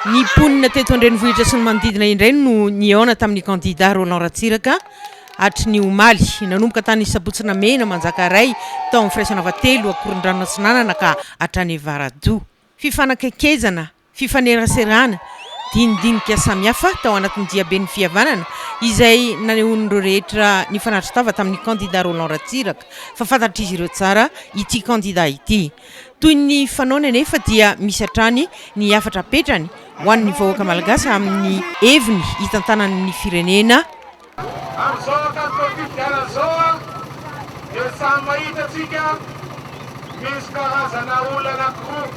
Ny mponina teto an-drenivohitra sy ny manodidina indray no nihaona tamin'ny kandidà Roland Ratsiraka hatry ny omaly. Nanomboka tany Sabotsina Mena Manjakaray, tao amin'ny Firaisanava telo, Ankorondrano Atsinanana ka hatrany Avaradoha. Fifanakaikezana, fifaneraserana, dinidinika samihafa tao anatin'ny diaben'ny fihavanana izay nanehoan'ireo rehetra nifanatri-tava tamin'ny kandidà Roland Ratsiraka fa fantatr'izy ireo tsara ity kandidà ity. Toy ny fanaony anefa dia misy hatrany ny hafatra apetrany ho an'ny vahoaka malagasy amin'ny heviny hitantanany ny firenena. Amin'izao ankatom-pafidianana izao dia samy mahita antsika misy karazana olona anankiroa.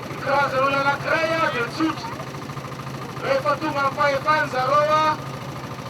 Ny karazana olona anankiray dia tsotra, rehefa tonga amin'ny fahefana zareo,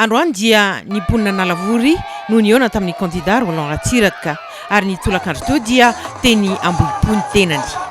Androany dia ny mponin'Analavory no nihaona tamin'ny kandida Roland Ratsiraka ary ny tolakandro teo dia teny Ambohipo ny tenany.